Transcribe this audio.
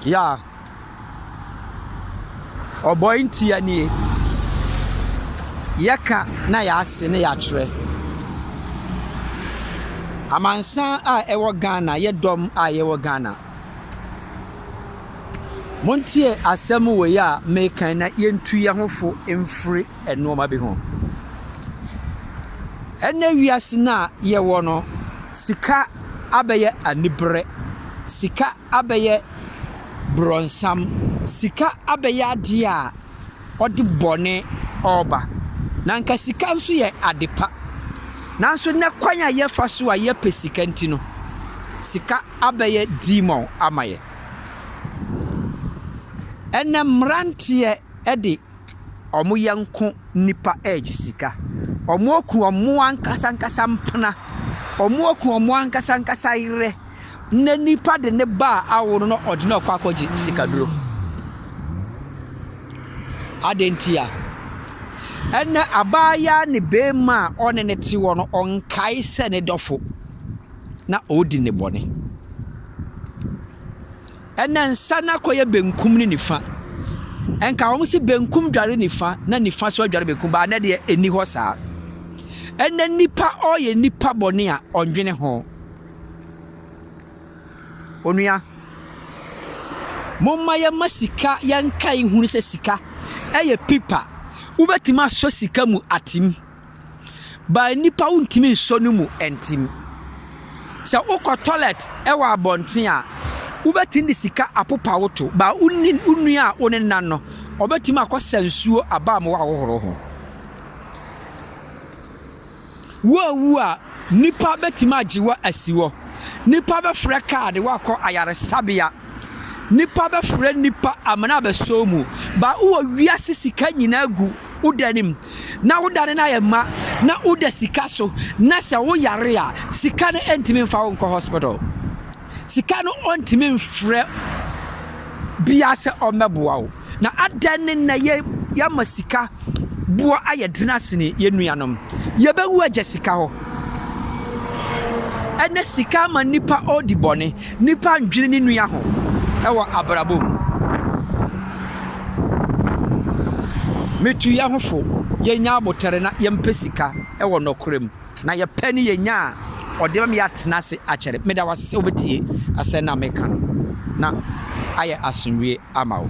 Yeah. Ɔbɔ ntia nie. Yɛka na yɛase ne yɛakyerɛ. Amansan a ɛwɔ Ghana, yɛ dɔm a yɛwɔ Ghana. Montie asɛm wei a mekan na yɛntu yɛn ho fo mfiri. nnoɔma bi ho. Ɛnnɛ wiase no a yɛwɔ no, sika abɛyɛ aniberɛ, sika abɛyɛ borɔnsam, sika abɛyɛ adeɛ a ɔde bɔne ɔɔba. Na nka sika nso yɛ ade pa. Nanso nnɛ kwan a yɛfa so a yɛpɛ sika nti no, sika abɛyɛ demon ama yɛn. Ɛnnɛ mmeranteɛ de. ɔmo yɛnko nnipa regye sika. Ɔmo aku ɔmo ankasa ankasa mpena. Ɔmo aku ɔmo ankasa ankasa yerɛ. Na nipa de ne ba a awo no na ɔde no rekɔ akɔgye sika duro. Adeɛ nti a? Ɛnɛ abaayaa ne beema a ɔne no te hɔ no, ɔnkae sɛ ne dɔfo na ɔredi ne bɔne. Ɛna nsa no akɔyɛ benkum ne nifa. Ɛnka wɔn se benkum dware nifa na nifa so adware benkum baa na deɛ ɛni hɔ saa. Ɛna nipa ɔyɛ nipa bɔne a ɔndwene ho. Onua, momma yɛma sika yɛnkae hunu sɛ sika ɛyɛ pipa. Wobɛtumi asɔ sika mu atim. But nnipa wontumi nsɔ no mu ntim. Sɛ wokɔ toilet wɔ abɔnten a, wobɛtumi de sika apopa wo to. But wo ne wo nua a wo ne nan no, ɔbɛtumi akɔsa nsuo aba ma woahohoro ho. Woawu a, nnipa bɛtumi agye wo asi hɔ. Nnipa bɛfrɛ kaa de woakɔ ayaresabea. Nnipa bɛfrɛ nnipa amena abɛsɔ wo mu. But wowɔ wiase sika nyinaa gu. woda no mu na woda no no ayɛ ma na woda sika so na sɛ woyare a sika no ntumi mfa wo nkɔ hospital sika no ɔntumi mfrɛ bia sɛ ɔmmɛboa wo na adɛn ne na yɛ yɛama sika boɔ ayɛ dena sene yɛn nuanom yɛbɛwu agya sika hɔ ɛnɛ sika ama nipa ɔdi bɔne Nipa ndwene ne nua ho wɔ abrabɔ mu. Metu yɛn ho fo, yɛnyɛ aboterɛ na yɛmpɛ sika wɔ nɔkorɛ mu, na yɛpɛ ne yɛnya a ɔde bɛma yɛatena ase akyɛre. Meda wo ase sɛ wobɛtie asɛm no a meka no na ayɛ asomdwoeɛ ama wo.